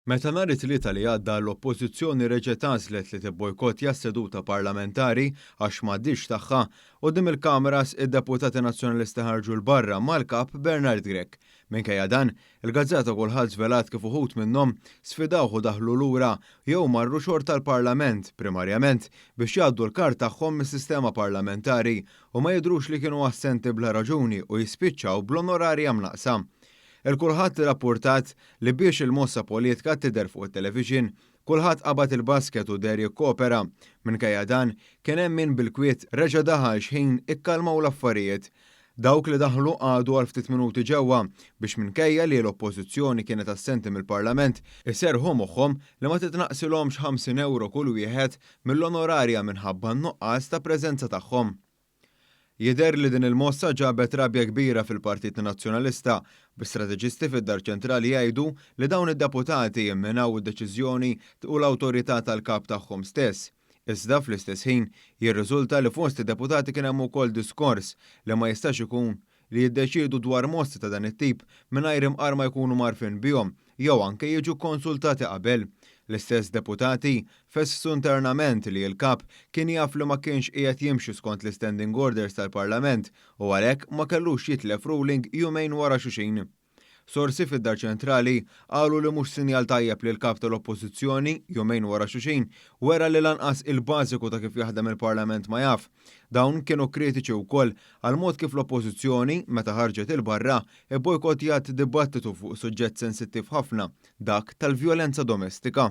Meta nhar it-Tlieta li għadda l-Oppożizzjoni reġgħet għażlet li tibbojkottja s-seduta parlamentari għax m'għaddiex tagħha, quddiem il-kameras id-Deputati Nazzjonalisti ħarġu 'l barra mal-Kap Bernard Grech. Minkejja dan, il-gazzetta Kulħadd żvelat kif uħud minnhom sfidawh u daħlu lura jew marru xorta l-Parlament, primarjament biex jgħaddu l-kard tagħhom mis-sistema parlamentari u ma jidhrux li kienu assenti bla raġuni u jispiċċaw bl-onorarja mnaqqsa. Il-kulħadd irrappurtat li biex il-mossa politka tidher fuq it-televixin, kulħadd qabad il-basket u deher jikkoopera. Minkejja dan, kien hemm min bil-kwiet reġa' daħal x'ħin ikkalmaw l-affarijiet. Dawk li daħlu qagħdu għal ftit minuti ġewwa biex minkejja li l-Oppożizzjoni kienet assenti mill-Parlament, iserrħu moħħhom li ma titnaqqsilhomx 50 ewro kull wieħed mill-onorarja minħabba n-nuqqas ta' preżenza tagħhom. Jidher li din il-mossa ġabet rabja kbira fil-Partit Nazzjonalista, bi strateġisti fid-Dar Ċentrali jgħidu li dawn id-deputati imminaw id-deċiżjoni u l-awtorità tal-Kap tagħhom stess. Iżda, fl-istess ħin, jirriżulta li fost id-deputati kien hemm ukoll diskors li ma jistax ikun li jiddeċiedu dwar mostri ta' dan it-tip mingħajr imqar ma jkunu mgħarrfin bihom jew anke jiġu kkonsultati qabel. L-istess deputati fesssu internament li l-Kap kien jaf li ma kienx qiegħed jimxi skont l-istanding orders tal-Parlament u għalhekk ma kellux jitlef ruling jumejn wara xuxin. Sorsi fid-Dar Ċentrali qalu li mhux sinjal tajjeb li l-Kap tal-Oppożizzjoni, jumejn wara xuxin, wera li lanqas il-bażiku ta' kif jaħdem il-Parlament ma jaf. Dawn kienu kritiċi wkoll għall-mod kif l-Oppożizzjoni, meta ħarġet 'il barra, ibbojkottjat dibattitu fuq suġġett sensittiv ħafna, dak tal-vjolenza domestika.